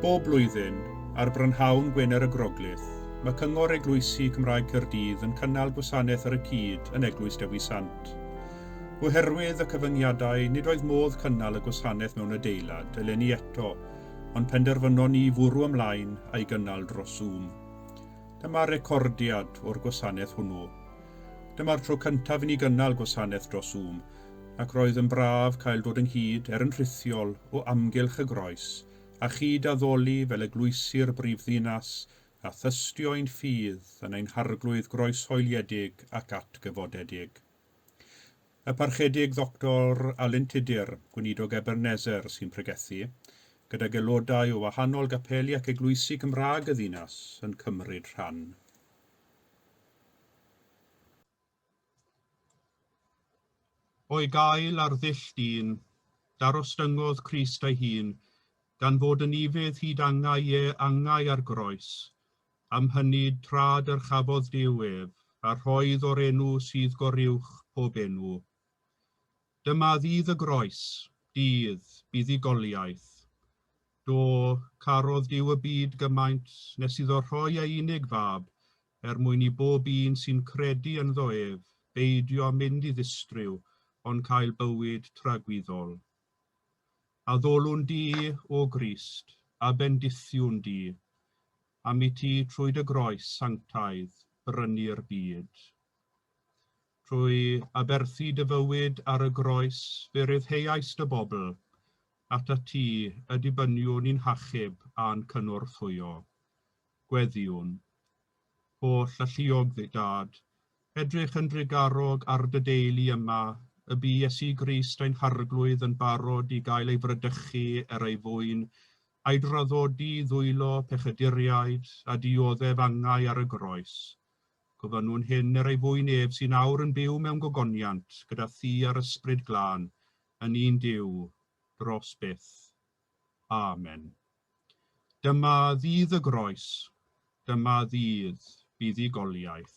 Bob blwyddyn, ar brynhawn Gwener y Groglith, mae Cyngor Eglwysi Cymraeg Caerdydd yn cynnal gwasanaeth ar y cyd yn Eglwys Dewi Sant. Oherwydd y cyfyngiadau, nid oedd modd cynnal y gwasanaeth mewn adeilad eleni eto, ond penderfynon ni fwrw ymlaen a'i gynnal dros Zoom. Dyma recordiad o'r gwasanaeth hwnnw. Dyma'r tro cyntaf i ni gynnal gwasanaeth dros Zoom, ac roedd yn braf cael dod ynghyd, er yn rhithiol, o amgylch y Groes, a chyd-addoli fel eglwysi'r brifddinas, a thystio ein ffydd yn ein harglwydd groeshoeliedig ac atgyfodedig. Y Parchedig Ddoctor Alun Tudur, Gweinidog Ebenezer, sy'n pregethu, gydag aelodau o wahanol gapeli ac eglwysi Cymraeg y ddinas yn cymryd rhan. O'i gael ar ddull dyn, darostyngodd Crist ei hun, gan fod yn ufudd hyd angau Ie, angau ar groes, Am hynny, tra dyrchafodd Duw ef, a rhoedd o'r enw sydd goruwch pob enw. Dyma ddydd y groes, dydd buddugoliaeth. Do, carodd Duw y byd gymaint nes iddo rhoi ei unig fab, er mwyn i bob un sy'n credu ynddo ef beidio mynd i ddistryw, ond cael bywyd tragwyddol. A ddolwn di, O Grist, a bendithiwn di, am i ti trwy dy groes sanctaidd brynu'r byd. Trwy aberthu dy fywyd ar y groes fe ryddheuais dy bobl, atat ti y dibyniwn i'n hachub a'n cynorthwyo. Gweddïwn. Holl alluog fe Dad, edrych yn drugarog ar dy deulu yma, y bu Iesu Grist ein Harglwydd yn barod i gael ei fradychu er ei fwyn, a'i draddodi i ddwylo pechaduriaid, a dioddef angau ar y groes. Gofynnwn hyn er ei fwyn ef sy'n awr yn byw mewn gogoniant gyda thi a'r Ysbryd Glân, yn un Duw, dros byth. Amen. Dyma ddydd y groes, dyma ddydd buddugoliaeth.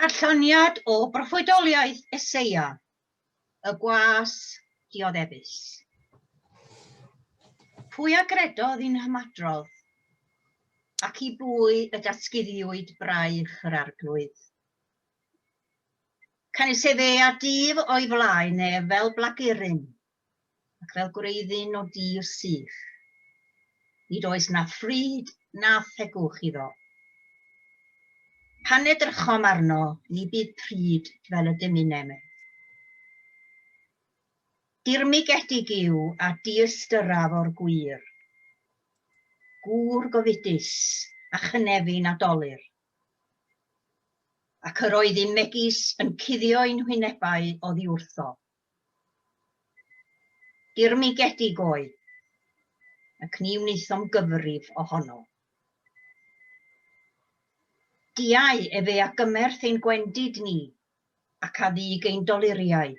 Darlleniad o broffwydoliaeth Eseia, y gwas dioddefus. Pwy a gredodd i'n hymadrodd, ac i bwy y datguddiwyd braich yr arglwydd? Canys efe a dyf o'i flaen ef fel blagurin, ac fel gwreiddyn o dir sych. Nid oes na phryd na thegwch iddo. Pan edrychom arno, ni bydd pryd fel y dyminem ef. Dirmigedig yw a diystyraf o'r gwir. Gŵr gofidus a chynefin a dolir. Ac yr oedd un megis yn cuddio ein hwynebau oddi wrtho. Dirmygedig oedd, ac ni wnaethom gyfrif ohono. Diau efe a gymerth ein gwendid ni, ac a ddug ein doluriau.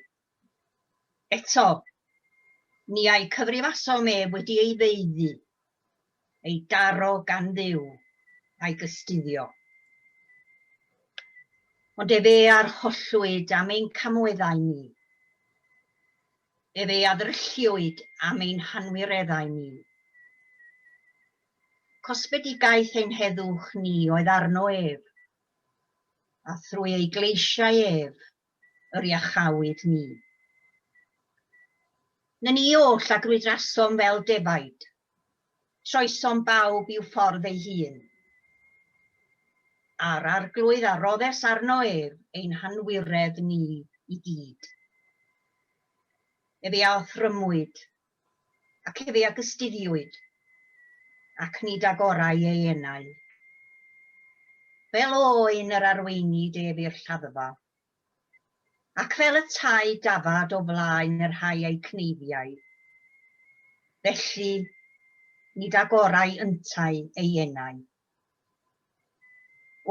Eto, ni a'i cyfrifasom ef wedi ei feuddu, ei daro gan Dduw a'i gystuddio. Ond ef ei arhollwyd am ein camweddau ni. Ef ei addrylliwyd am ein hanwireddau ni. Cosbedigaeth ein heddwch ni oedd arno ef, a thrwy ei gleisiau ef yr iachawyd ni. Nen i oll a grwydrasom fel defaid, troesom bawb i'w ffordd ei hun. A'r arglwydd a roddes arno ef ein hanwiredd ni i gyd. Efe a othrymwyd Ac efe a gystuddiwyd, ac nid ag orau ei enau. Fel oen yr arweinid ef i'r lladdfa, ac fel y tai dafad o flaen y rhai a'i cneiddiau. Felly, nid ag orau yntau ei enau.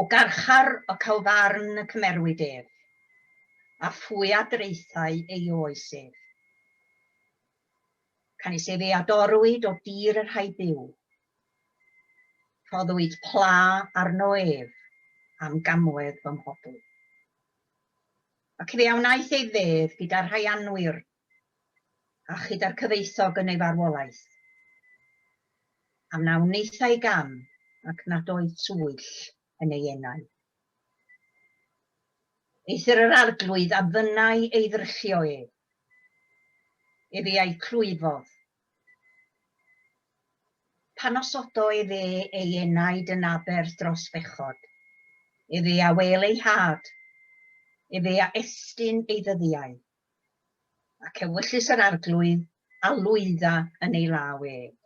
O garchar y Calfarn y cymerwyd ef, a phwy a draethai ei oes ef. Canys efe a dorwyd o dir y rhai byw, rhoddwyd pla arno ef am gamwedd fy mhobl. Ac fe a wnaeth ei fedd gyda rhai anwir a chyda'r cyfoethog yn ei farwolaeth, a wnawn wnaethai gam ac nad oedd twyll yn ei enau. Eithr yr arglwydd a fynnai ei ddryllio ef, ef ei a'i clwyfodd. Pan osodo ef e ei enaid yn aber dros fechod, ef e a wel ei had, ef e a estyn ei ddyddiau. Ac ewyllys yr Arglwydd a lwydda yn ei law ef.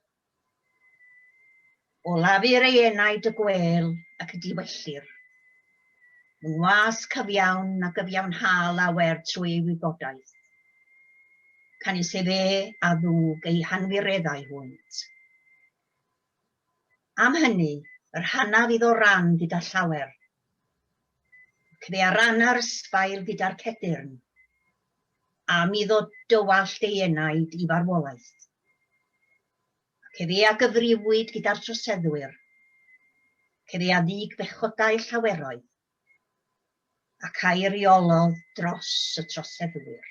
Olafir ei enaid y gwêl ac y diwellir. Yn was cyfiawn a gyfiawnha lawer trwy ei wybodaeth. Canys efe a ddwg ei hanwireddau hwynt. Am hynny, yr hanaf iddo ran gyda llawer. Ac fe arana yr ysbail gyda'r cedyrn. Am iddo dywallt ei enaid i farwolaeth. Ac efe a gyfriwyd gyda'r troseddwyr. Ac efe a ddig bechodau llaweroedd. ac eiriolodd dros y troseddwyr.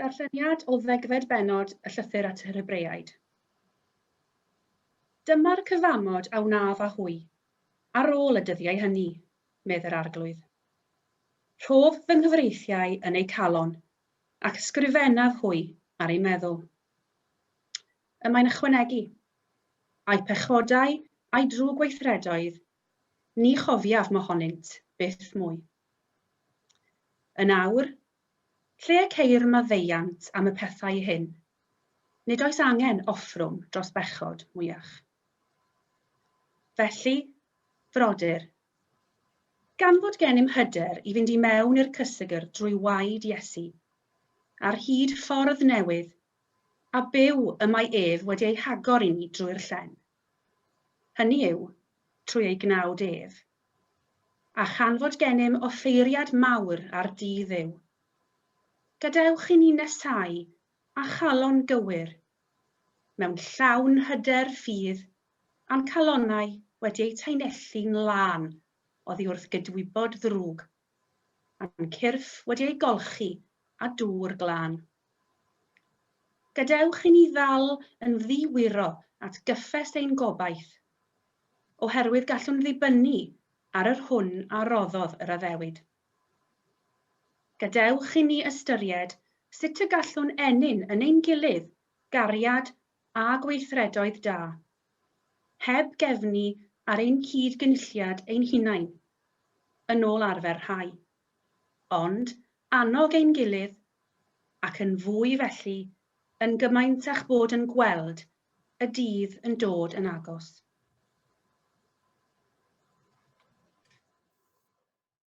Darlleniad o ddegfed bennod y Llythyr at yr Hebreaid. Dyma'r cyfamod a wnaf â hwy, ar ôl y dyddiau hynny, medd yr Arglwydd. Rhof fy nghyfreithiau yn eu calon, ac ysgrifennaf hwy ar eu meddwl. Y mae'n ychwanegu, A'i pechodau a'i drwg weithredoedd Ni chofiaf mohonynt byth mwy. Yn awr, lle y ceir maddeuant am y pethau hyn, nid oes angen offrwm dros bechod mwyach. Felly, frodyr, gan fod gennym hyder i fynd i mewn i'r cysegr drwy waed Iesu, ar hyd ffordd newydd a byw y mae ef wedi ei hagor i ni drwy'r llen, hynny yw, trwy ei gnawd ef. A chan fod gennym offeiriad mawr ar Dŷ Dduw, gadewch i ni nesáu â chalon gywir, mewn llawn hyder ffydd a'n calonnau wedi eu tanelli'n lân oddi wrth gydwybod ddrwg a'n cyrff wedi ei golchi â dŵr glân. Gadewch i ni ddal yn ddi-wiro at gyffes ein gobaith, oherwydd gallwn ddibynnu ar yr hwn a roddodd yr addewid. Gadewch i ni ystyried sut y gallwn ennyn yn ein gilydd gariad a gweithredoedd da, heb gefnu ar ein cyd-gynulliad ein hunain, yn ôl arfer rhai, ond annog ein gilydd, ac yn fwy felly, yn gymaint â'ch bod yn gweld y dydd yn dod yn agos.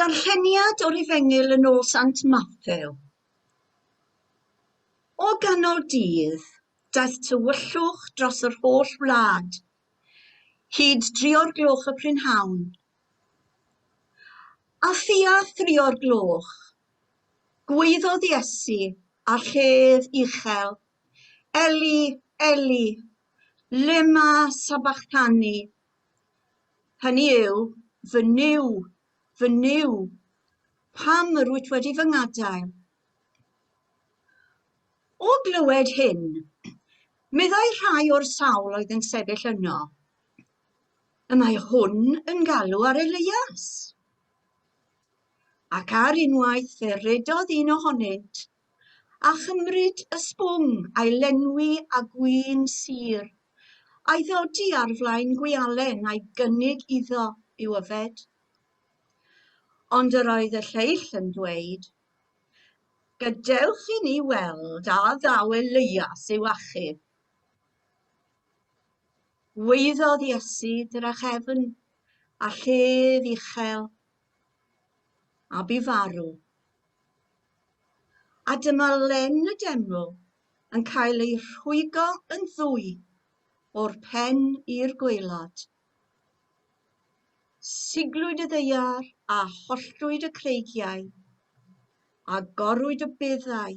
darlleniad o'r efengyl yn ôl sant mathew o ganol dydd daeth tywyllwch dros yr holl wlad hyd dri o'r gloch y prynhawn a thua thri o'r gloch gwaeddodd iesu â llef uchel eli eli lema sabachthani Hynny yw, fy Nuw, fy Nuw, pam yr wyt wedi fy ngadael? O glywed hyn, meddai rhai o'r sawl oedd yn sefyll yno, y mae hwn yn galw ar Elias. Ac ar unwaith fe redodd un ohonynt A chymryd ysbwng a'i lenwi â gwin sur, a'i ddodi ar flaen gwialen a'i gynnig iddo i'w yfed. Ond yr oedd y lleill yn dweud, Gadewch i ni weld a ddaw Elias i'w achub. Gwaeddodd Iesu drachefn a llef uchel a bu farw. A dyma Len y Deml yn cael ei rhwygo yn ddwy o'r pen i'r gwaelod. Siglwyd y ddeiar a holltwyd y creigiau, a gorwyd y beddau,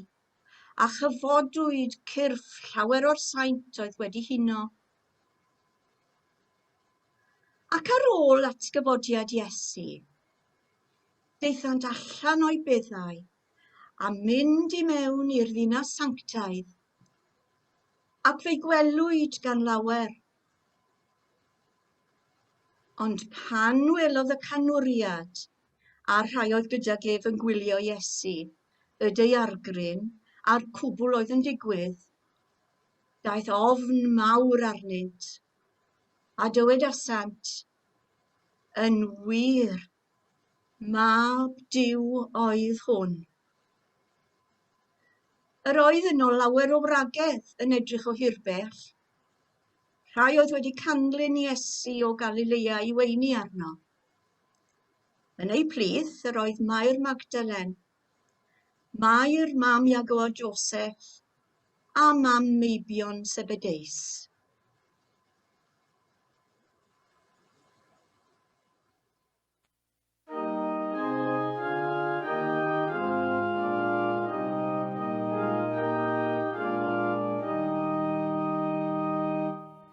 a chyfodwyd cyrff llawer o'r saint oedd wedi huno Ac ar ôl atgyfodiad Iesu, daethant allan o'i beddau a mynd i mewn i'r ddinas sanctaidd, ac fe'i gwelwyd gan lawer. Ond pan welodd y canwriad a'r rhai oedd gyda gef yn gwylio Iesu, y deiargryn a'r cwbl oedd yn digwydd, Daeth ofn mawr arnynt, a dywedasant, Yn wir, mab Duw oedd hwn. Yr oedd yno lawer o wragedd yn edrych o hirbell. Rhai oedd wedi canlyn Iesu o Galilea i weini arno. Yn eu plith yr oedd Mair Magdalen, Mair, mam Iago a Joseph, a mam meibion Sebedeus.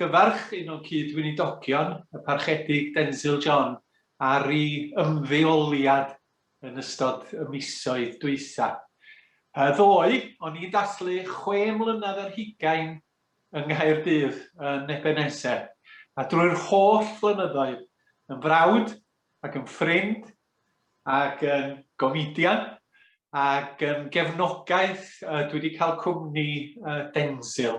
Gyfarch un o gyd-weinidogion y Parchedig Denzil John ar ei ymddeoliad yn ystod y misoedd dwytha. Yy ddoe, o'n i'n dathlu chwe mlynedd ar hugain yng Nghaerdydd yn Ebenezer, a drwy'r holl flynyddoedd, yn frawd ac yn ffrind ac yn gomidian ac yn gefnogaeth uh, dwi wedi cael cwmni uh, Denzil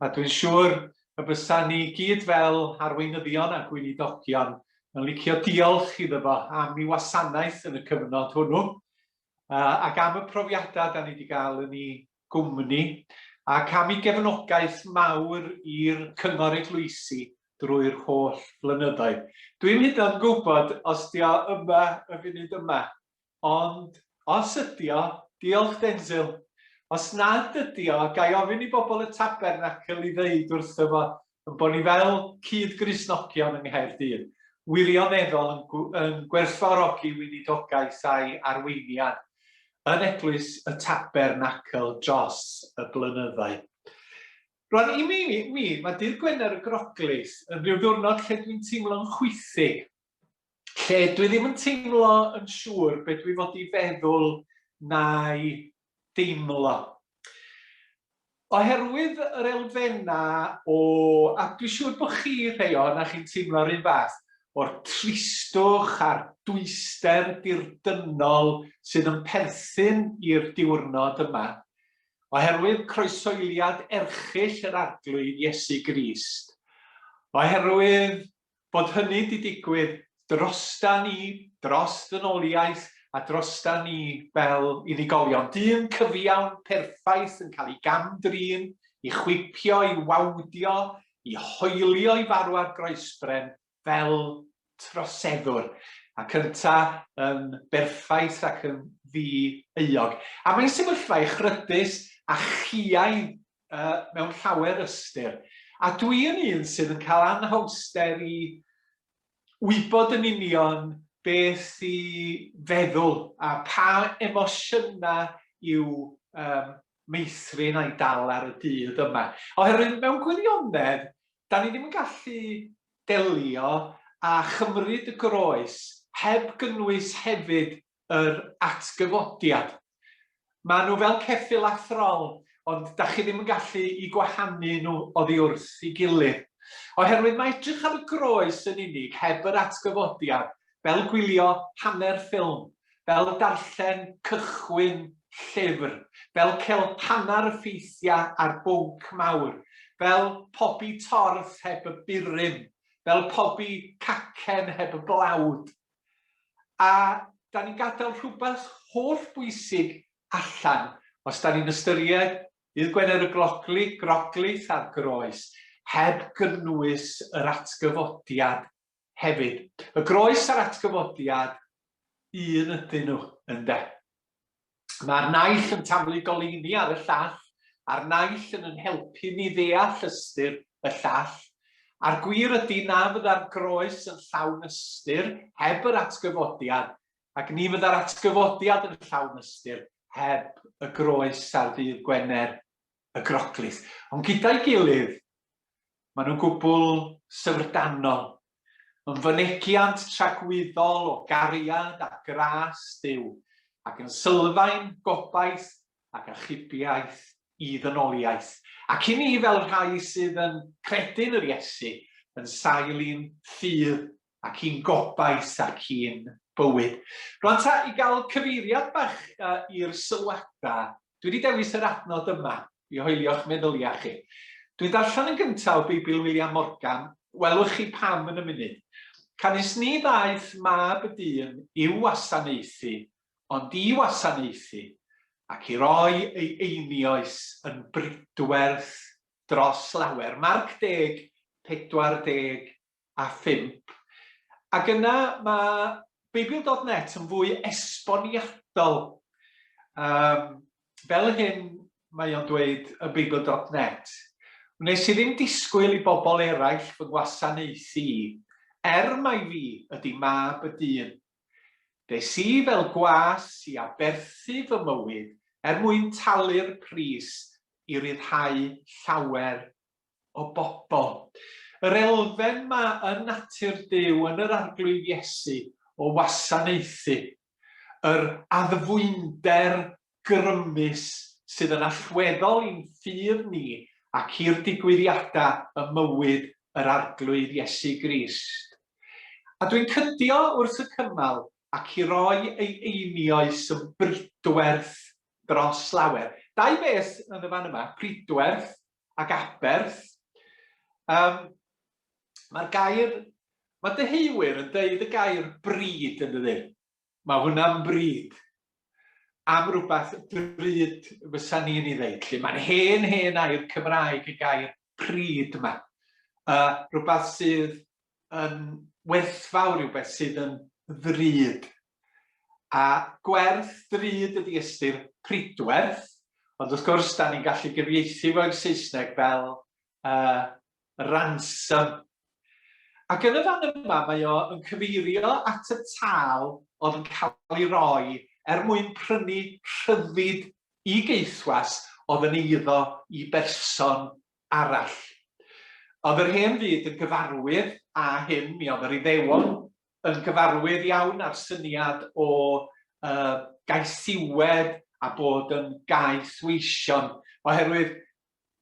a dwi'n siŵr y bysa ni gyd fel arweinyddion a gweinidogion yn licio diolch iddo fo am ei wasanaeth yn y cyfnod hwnnw uh, ac am y profiadau da ni wedi cael yn ei gwmni ac am ei gefnogaeth mawr i'r Cyngor Eglwysi drwy'r holl flynyddoedd. Dwi'm hyd yn oed yn gwybod os 'di o yma y funud yma, ond os ydi o, diolch Denzil. Os nad ydi o, ga i ofyn i bobl y Tabernacl i ddeud wrtho fo ein bod ni fel cyd-Gristnogion yng Nghaerdydd wirioneddol yn, yn gwerthfawrogi weinidogaeth a'i arweiniad yn Eglwys y Tabernacl dros y blynyddoedd. Rwan, i mi, mi mae dydd Gwener y Groglith yn rhyw ddiwrnod lle dwi'n teimlo'n chwythig lle dwi ddim yn teimlo yn siŵr beth dwi fod i feddwl na'i deimlo. Oherwydd yr elfennau o, a dwi'n siŵr bod chi rhai o'n a chi'n teimlo'r un fath, o'r tristwch a'r dwyster dirdynnol sydd yn perthyn i'r diwrnod yma, oherwydd croesoeliad erchill yr Arglwydd Iesu Grist, oherwydd bod hynny 'di digwydd drostan ni, dros ddynoliaeth a drostan ni fel unigolion. Dyn cyfiawn, perffaith yn cael ei gam-drin, i chwipio, i wawdio, i hoelio i farw ar groesbren fel troseddwr, ac ynta yn berffaith ac yn ddi-euog. A mae'n sefyllfa echrydus a chiaidd uh, mewn llawer ystyr. A dwi yn un sydd yn cael anhawster i wybod yn union beth i feddwl a pa emosiynau i'w um, meithrin a'i dal ar y dydd yma. Oherwydd mewn gwirionedd, da ni ddim yn gallu delio a chymryd y groes heb gynnwys hefyd yr atgyfodiad. Maen nhw fel ceffyl a throl, ond da chi ddim yn gallu i gwahanu nhw oddi wrth i gilydd. Oherwydd mae edrych ar y groes yn unig heb yr atgyfodiad, fel gwylio hanner ffilm, fel darllen cychwyn llyfr, fel cael hanner ffeithiau ar bwnc mawr, fel pobi torth heb y burum, fel pobi cacen heb y blawd. A dan ni'n gadael rhywbeth holl bwysig allan os dan ni'n ystyried Dydd Gwener y Glocli, Groglith a'r Groes, heb gynnwys yr atgyfodiad hefyd. Y Groes a'r atgyfodiad, un ydyn nhw, ynde? Mae'r naill yn taflu goleuni ar y llall, a'r naill yn yn helpu ni ddeall ystyr y llall. A'r gwir ydy na fydda'r groes yn llawn ystyr heb yr atgyfodiad, ac ni fydda'r atgyfodiad yn llawn ystyr heb y groes ar ddydd Gwener y Groglith. Ond gyda'i gilydd, maen nhw'n gwbl syfrdanol Yn fynegiant tragwyddol o gariad a gras Duw, ac yn sylfaen gobaith ac achubiaeth i ddynoliaeth, ac i ni fel rhai sydd yn credu'n yr Iesu, yn sail i'n ffydd ac i'n gobaith ac i'n bywyd. Rwan ta, i gael cyfeiriad bach i'r sylwadau Dwi wedi dewis yr adnod yma i hoelio'ch meddyliau chi. Dwi'n darllen yn gyntaf o Beibl William Morgan, welwch chi pam yn y munud. Canys ni ddaeth mab y dyn i'w wasanaethu, ond i wasanaethu, ac i roi ei einioes yn bridwerth dros lawer. Marc deg, pedwar deg, a phump, ac yna mae Beibl dot net yn fwy esboniadol, um, fel hyn mae o'n dweud yn Beibl dot net. Wnes i ddim disgwyl i bobl eraill fy ngwasanaethu i, er mai fi ydy mab y dyn. Des i fel gwas i aberthu fy mywyd er mwyn talu'r pris i ryddhau llawer o bobl. Yr elfen ma yn natur Duw, yn yr Arglwydd Iesu, o wasanaethu. Yr addfwynder grymus sydd yn allweddol i'n ffydd ni ac i'r digwyddiadau ym mywyd yr Arglwydd Iesu Grist. A dwi'n cydio wrth y cymal ac i roi ei einioes yn bridwerth dros lawer. Dau beth yn y fan yma, pridwerth ac aberth. Um, Mae'r gair, mae deheuwyr yn deud y gair bryd yn dydyn. Mae hwnna'n bryd am rhywbeth drud fysa ni'n ei ddeud. Lle mae'n hen, hen air Cymraeg y gair pryd yma. Uh, rhywbeth sydd yn werthfawr, rhywbeth sydd yn ddrud A gwerth drud ydi ystyr Prydwerth, ond wrth gwrs 'dan ni'n gallu gyfieithu fo i'r Saesneg fel yy ransom. Ac yn y fan yma mae o yn cyfeirio at y tâl o'dd yn ca'l ei roi er mwyn prynu rhyddid i geithwas o'dd yn eiddo i berson arall. O'dd yr hen fyd yn gyfarwydd â hyn, mi o'dd yr Iddewon yn gyfarwydd iawn â'r syniad o uh, gaethiwed a bod yn gaethweision, oherwydd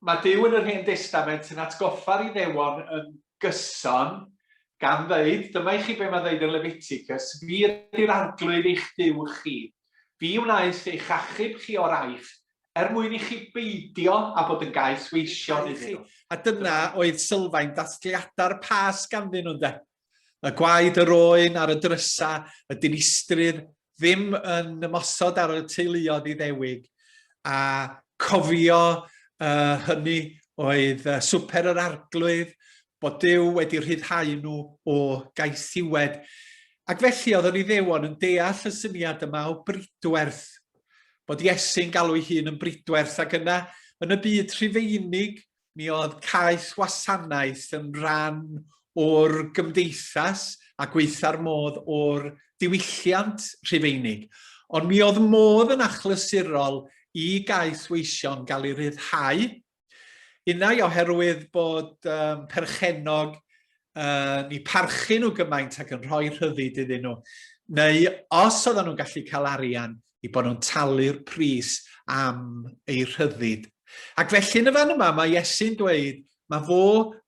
mae Dyw yn yr Hen Destament yn atgoffa'r Iddewon yn gyson gan ddeud, dyma i chi be mae'n ddeud yn Leviticus, fi ydy'r arglwydd eich Dyw chi, fi wnaeth eich achub chi o'r aifft, er mwyn i chi beidio a bod yn gaethweision iddyn nhw. A dyna oedd sylfaen dathliadau'r pas ganddyn nhw'n de. Y gwaed yr oen ar y drysa, y dinistrydd ddim yn ymosod ar y teuluodd iddewig, a cofio uh, hynny oedd uh, swper yr arglwydd, bod Dyw wedi rhyddhau nhw o gaethiwed. Ac felly oedd yr iddewon yn deall y syniad yma o bridwerth, bod Iesu'n galw'i hun yn bridwerth, ac yna, yn y byd rhufeinig, Mi oedd cais wasanaeth yn rhan o'r gymdeithas a gweitha'r modd o'r diwylliant Rhufeinig, ond mi oedd modd yn achlysurol i gais weision gael ei ryddhau, unai oherwydd bod um, perchenog uh, ni parchu nhw gymaint ac yn rhoi rhyddid iddyn nhw, neu os oedden nhw'n gallu cael arian i bod nhw'n talu'r pris am ei rhyddid. Ac felly yn y fan yma mae Iesu'n dweud mae fo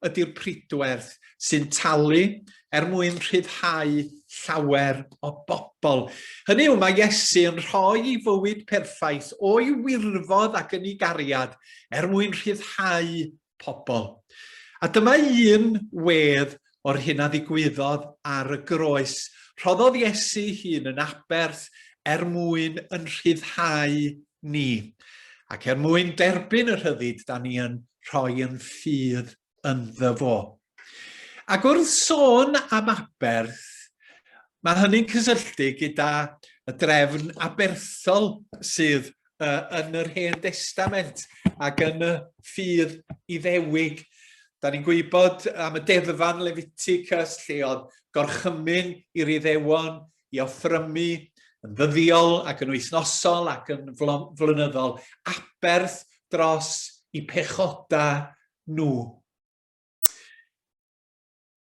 ydy'r pridwerth sy'n talu er mwyn rhyddhau llawer o bobl. Hynny yw, mae Iesu yn rhoi ei fywyd perffaith o'i wirfodd ac yn ei gariad er mwyn rhyddhau pobl. A dyma un wedd o'r hyn a ddigwyddodd ar y groes. Rhoddodd Iesu hun yn aberth er mwyn yn rhyddhau ni, ac er mwyn derbyn y rhyddid da ni yn rhoi yn ffydd ynddo fo. Ac wrth sôn am aberth, mae hynny'n cysylltu gyda y drefn aberthol sydd uh, yn yr Hen Destament ac yn y ffydd iddewig. Da ni'n gwybod am y deddfan Leviticus lle oedd gorchymyn i'r iddewon i offrymu yn ddyddiol ac yn wythnosol ac yn flynyddol aberth dros i pechoda nhw.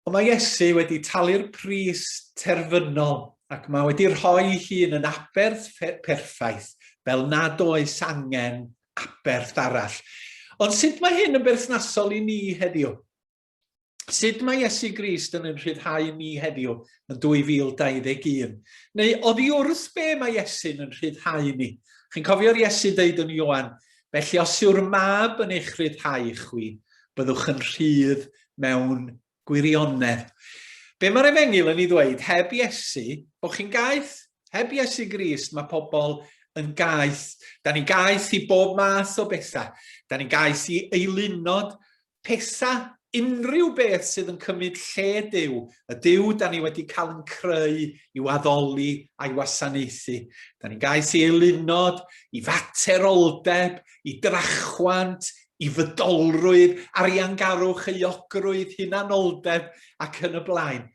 Ond mae Iesu wedi talu'r pris terfynol ac mae wedi rhoi hun yn aberth perffaith fel nad oes angen aberth arall. Ond sut mae hyn yn berthnasol i ni heddiw? Sut mae Iesu Grist yn ein rhyddhau ni heddiw yn 2021? Neu oddi wrth be mae Iesu'n yn rhyddhau ni? Chi'n cofio'r Iesu ddeud yn Ioan, Felly os yw'r mab yn eich rhyddhau chwi, byddwch yn rhydd mewn gwirionedd. Be mae'r efengil yn ei ddweud? Heb Iesu, bod chi'n gaeth. Heb Iesu Grist, mae pobl yn gaeth. Da ni gaeth i bob math o bethau. Da ni gaeth i eilunod Pesa unrhyw beth sydd yn cymryd lle Duw, y Duw da ni wedi cael yn creu i'w addoli a'i wasanaethu. Da ni'n gais i eilunod, i fateroldeb, i drachwant, i fydolrwydd, ariangarwch, euogrwydd, hunanoldeb ac yn y blaen.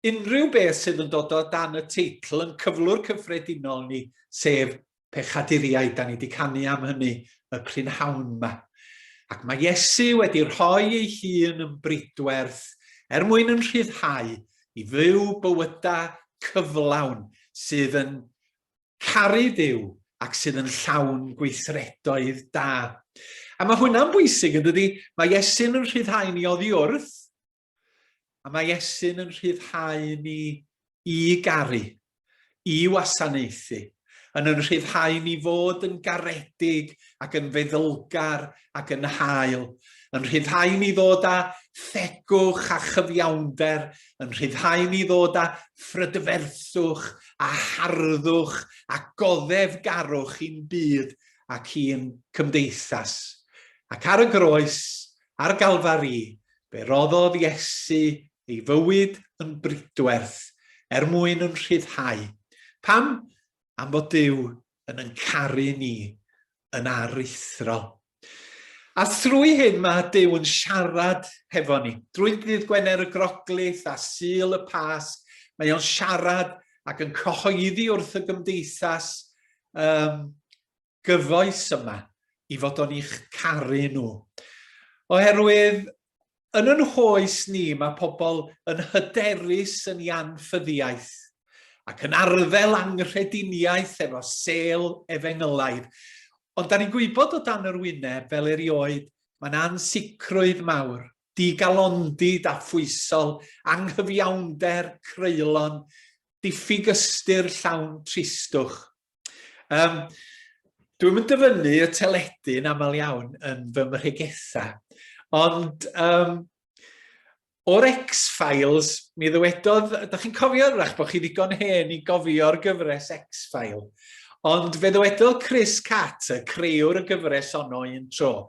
Unrhyw beth sydd yn dod o dan y teitl yn cyflwr cyffredinol ni, sef pechaduriaid, da ni wedi canu am hynny y prynhawn yma. Ac mae Iesu wedi rhoi ei hun yn bridwerth er mwyn yn rhyddhau i fyw bywydau cyflawn sydd yn caru Dyw ac sydd yn llawn gweithredoedd da. A mae hwnna'n bwysig, yn dydy? Mae Iesu'n yn rhyddhau ni oddi wrth, A mae Iesu'n yn rhyddhau ni i garu, i wasanaethu, yn yn rhyddhau ni fod yn garedig ac yn feddylgar ac yn hael, yn rhyddhau ni ddod â thegwch a chyfiawnder, yn rhyddhau ni ddod â phrydferthwch a harddwch a goddefgarwch i'n byd ac i'n cymdeithas. Ac ar y groes, Ar Galfari, fe roddodd Iesu ei fywyd yn bridwerth er mwyn yn rhyddhau. Pam? Am fod Duw yn yn caru ni yn aruthrol. A thrwy hyn mae Duw yn siarad hefo ni. Drwy ddydd Gwener y Groglith a Sul y Pasg, mae o'n siarad ac yn cyhoeddi wrth y gymdeithas um, gyfoes yma i fod o'n i'ch caru nhw. Oherwydd yn yn hoes ni mae pobl yn hyderus yn ei anffyddiaeth ac yn arddel anghrediniaeth efo sel efengylaidd. Ond da ni'n gwybod o dan yr wyneb fel erioed mae'n ansicrwydd mawr, digalondid a phwysol, anghyfiawnder, creulon, diffyg ystyr llawn tristwch. Um, Dwi'n mynd dyfynnu y teledu yn aml iawn yn fy mhregetha. Ond um, o'r X-Files, mi ddywedodd, ydych chi'n cofio rach bod chi ddigon hen i gofio'r gyfres X-File. Ond fe ddywedodd Chris Catt, y creiwr y gyfres ono un tro,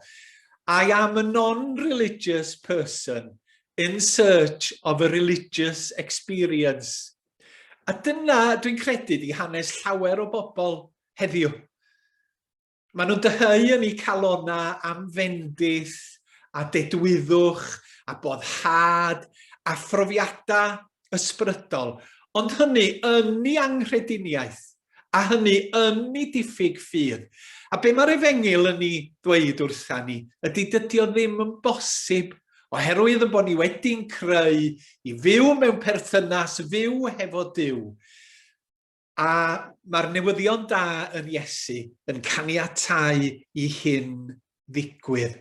I am a non-religious person in search of a religious experience. A dyna, dwi'n credu, di hanes llawer o bobl heddiw. Maen nhw'n dyheu yn eu calona am fendith a dedwyddwch a boddhad a phrofiadau ysbrydol, ond hynny yn ei anghrediniaeth a hynny yn ei diffyg ffydd. A be mae'r efengyl yn ei ddweud wrtha ni ydy dydy o ddim yn bosib oherwydd yn bod ni wedi'n creu i fyw mewn perthynas fyw hefo Duw. A mae'r newyddion da yn Iesu yn caniatau i hyn ddigwydd.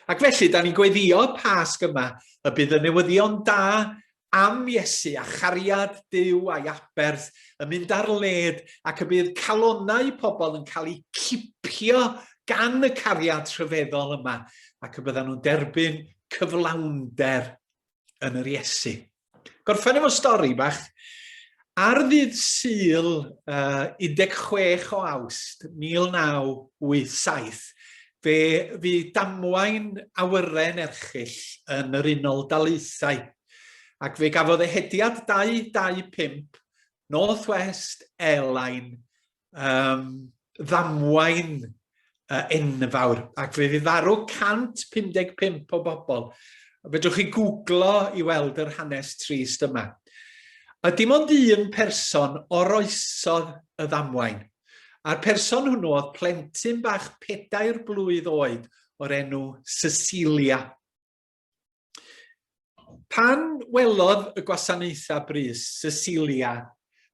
Ac felly, da ni'n gweddio y Pasg yma y bydd y newyddion da am Iesu a chariad Dyw a'i aberth yn mynd ar led ac y bydd calonau pobl yn cael eu cipio gan y cariad rhyfeddol yma ac y byddan nhw'n derbyn cyflawnder yn yr Iesu. Gorffen efo stori bach. Ar ddydd syl uh, 16 o awst 1987, fe fu damwain awyren erchill yn yr Unol Daleithau, ac fe gafodd ehediad 225 Northwest Airline um, ddamwain uh, enfawr, ac fe fydd farw 155 o bobl. Fedrwch chi googlo i weld yr hanes trist yma. A dim ond un person oroesodd y ddamwain. A'r person hwnnw oedd plentyn bach pedair blwydd oed o'r enw Cecilia. Pan welodd y gwasanaethau brys Cecilia,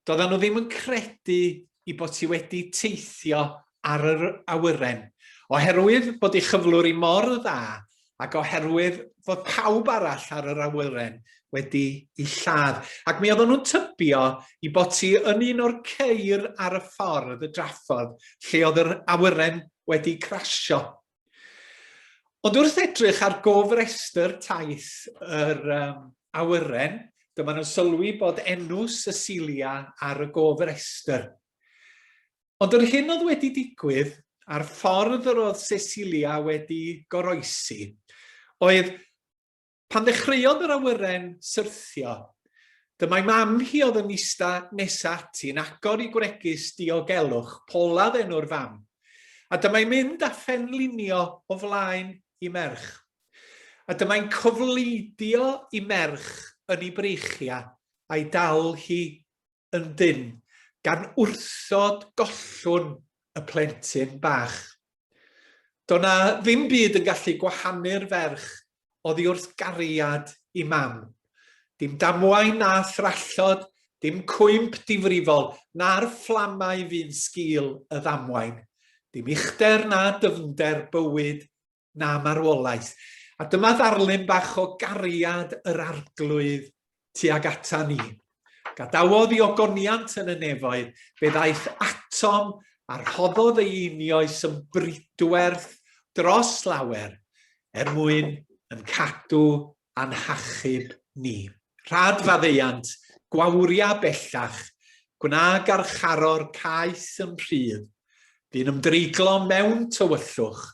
doedden nhw ddim yn credu i bod ti wedi teithio ar yr awyren, oherwydd bod ei chyflwr i mor dda ac oherwydd fod pawb arall ar yr awyren wedi i lladd. Ac mi oedden nhw'n tybio i bod ti yn un o'r ceir ar y ffordd, y draffordd, lle oedd yr awyren wedi crasio. Ond wrth edrych ar gofrestr taith yr um, awyren, dyma nhw'n sylwi bod enw Cecilia ar y gofrestr. Ond yr hyn oedd wedi digwydd a'r ffordd yr oedd Cecilia wedi goroesi oedd Pan ddechreuodd yr awyren syrthio, dymai mam hi oedd yn ista nesa ati yn agor i gwregys diogelwch, Polaf enw'r fam, a dymai mynd a phenlinio o flaen i merch. A dymai'n cofleidio i merch yn ei breichia a'i dal hi ynddynt, gan wrthod gollwng y plentyn bach. Do na ddim byd yn gallu gwahanu'r ferch oddi wrth gariad i mam. Dim damwain na thrallod, dim cwymp difrifol, na'r fflamau fu'n sgil y ddamwain. Dim uchder na dyfnder bywyd na marwolaeth. A dyma ddarlun bach o gariad yr arglwydd tuag ata ni. Gadawodd i ogoniant yn y nefoedd, fe ddaeth atom a rhoddodd ei unioes yn bridwerth dros lawer, er mwyn yn cadw a'n hachub ni. Rhad faddeuant, gwawria bellach, gwna garcharor caeth yn rhydd, bu'n ymdreiglo mewn tywyllwch,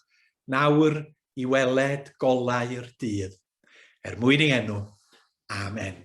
nawr i weled golau'r dydd. Er mwyn ei enw. Amen.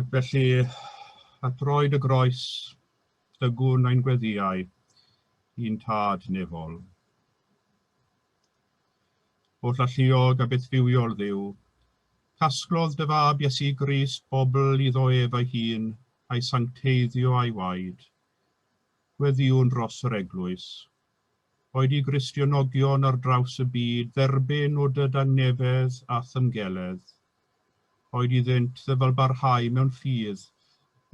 Ac felly, a droed y groes, dygwn ein gweddiau i'n tad nefol. O llalluog a beth bywiol ddiw, casglodd dy fab Iesu Gris bobl iddo ef ei hun a'i sancteiddio a'i waed. Gweddiwn dros yr eglwys, Boed i Gristionogion ar draws y byd dderbyn o dy dangnefedd a thymgeledd. Boed iddynt ddyfalbarhau mewn ffydd,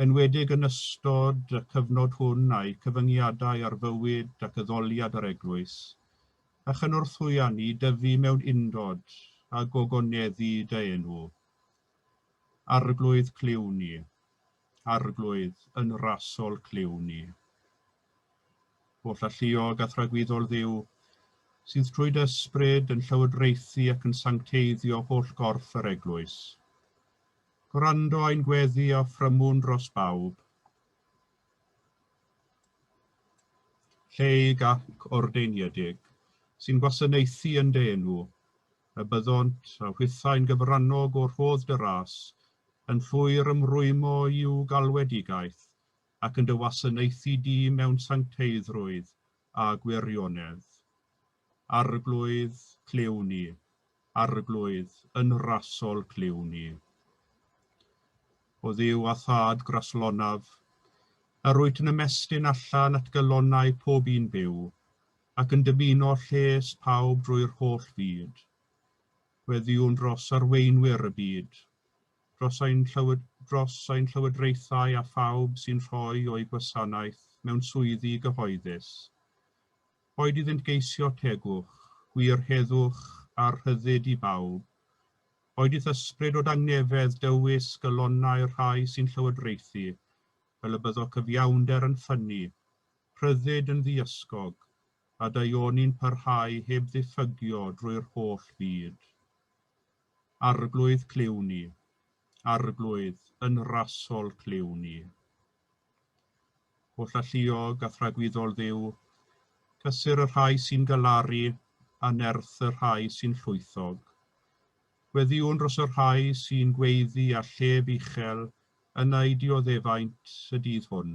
enwedig yn ystod y cyfnod hwn a'u cyfyngiadau ar fywyd ac addoliad yr Eglwys, a chynorthwya ni dyfu mewn undod a gogoneddu dy enw. Arglwydd Clyw ni. Arglwydd yn rasol Clyw ni. Holl alluog a thragwyddol Dduw, sydd trwy dy ysbryd yn llywodraethu ac yn sancteiddio holl gorff yr Eglwys. Gwrando ein gweddi a ffrymwn dros bawb. Lleig ac ordeiniedig, sy'n gwasanaethu yn dy enw, y byddont a hwythau'n gyfrannog o'r rhodd dy ras, yn llwyr ymrwymo i'w galwedigaeth, ac yn dy wasanaethu di mewn sancteiddrwydd a gwirionedd. Arglwydd, clyw ni. Arglwydd, yn rasol, clyw ni. O Dduw a Thad graslonaf, yr wyt yn ymestyn allan at galonnau pob un byw, ac yn dymuno lles pawb drwy'r holl fyd. Weddiwn dros arweinwyr y byd, dros ein dros ein llywodraethau a phawb sy'n rhoi o'u gwasanaeth mewn swyddi gyhoeddus. Boed iddynt geisio tegwch, gwir heddwch a rhyddid i bawb, boed i'th ysbryd o dangnefedd dywys galonnau'r rhai sy'n llywodraethu, fel y byddo cyfiawnder yn ffynnu, rhyddid yn ddiysgog, a daioni'n parhau heb ddiffygio drwy'r holl fyd. Arglwydd clyw ni, Arglwydd yn rasol clyw ni. Holl alluog a thragwyddol Dduw, cysur y rhai sy'n galaru a nerth y rhai sy'n llwythog. Gweddïwn dros y rhai sy'n gweiddi a llef uchel yn eu dioddefaint y dydd hwn,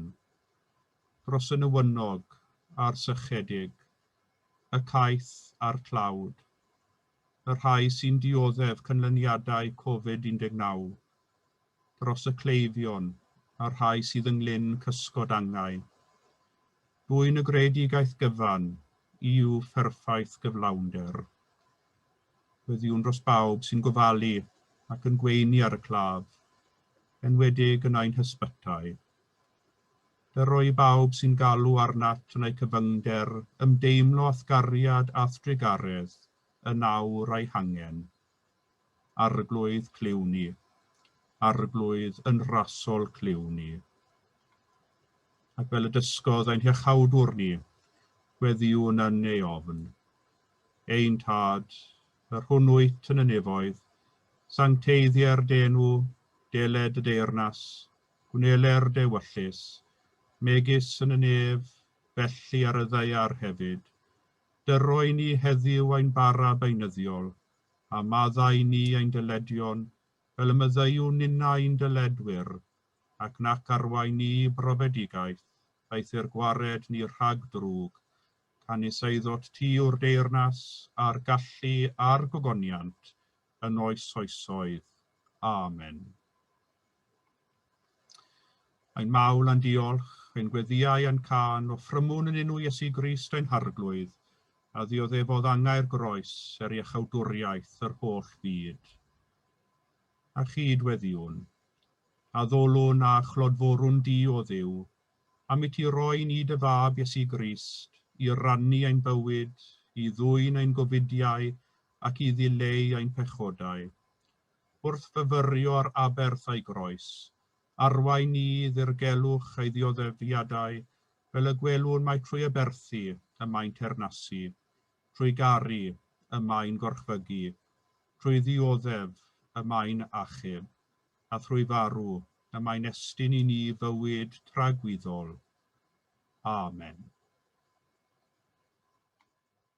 dros y newynog a'r sychedig, y caeth a'r tlawd. y rhai sy'n dioddef canlyniadau Covid 19, dros y cleifion a'r rhai sydd yng nglyn cysgod angau. Dwyn y greadigaeth gyfan i'w pherffaith gyflawnder. Wediwn dros bawb sy'n gofalu ac yn gweini ar y claf, enwedig yn ein hysbytai. Fe roi bawb sy'n galw arnat yn eu cyfyngder ymdeimlo athgariad a'th drugaredd yn awr a'i hangen. Arglwydd, clyw ni. Arglwydd, yn rasol, clyw ni. Ac fel y dysgodd ein Hiachawdwr ni, gweddiwn yn ei ofn. Ein Tad, yr hwn wyt yn y nefoedd, sancteiddier d'enw, deled y deyrnas, Gwnele'r dewyllys, megis yn y nef, felly ar y ddaear hefyd. Dyroi ni heddiw ein bara beunyddiol, a maddau ni ein dyledion, fel y myddeuwn ninna i'n dyledwyr, ac nac arwain ni i brofedigaeth, aeth i'r gwared ni rhag drwg, canys eiddot ti yw'r deyrnas, a'r gallu, a'r gogoniant, yn oes oesoedd. Amen. Ein mawl a'n diolch, ein gweddïau a'n cân, offrymwn yn enw Iesu Grist ein Harglwydd, a ddioddefodd angau'r groes er iachawdwriaeth yr holl fyd. A chyd weddiwn, addolwn a chlodforwn Di, o Dduw, am i Ti roi ni Dy Fab Iesu Grist i rannu ein bywyd, i ddwyn ein gofidiau ac i ddileu ein pechodau. Wrth fyfyrio ar aberth a'i groes, arwain ni i ddirgelwch ei ddioddefiadau fel y gwelwn mai trwy aberthu y mae'n teyrnasu, trwy garu y mae'n gorchfygu, trwy ddioddef y mae'n achub, a thrwy farw y mae'n estyn i ni fywyd tragwyddol. Amen.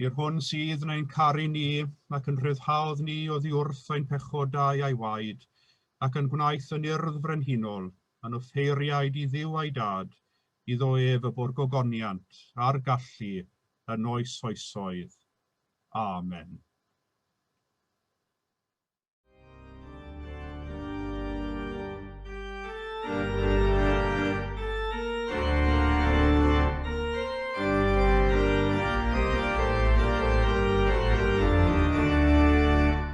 I'r hwn sydd yn ein caru ni, ac yn rhyddhaodd ni oddi wrth ein pechodau a'i waed, ac yn gwnaeth yn urdd frenhinol, yn offeiriaid i ddiw a'i dad, iddo ef y bwrgogoniant, a'r gallu, yn oes oesoedd. Amen.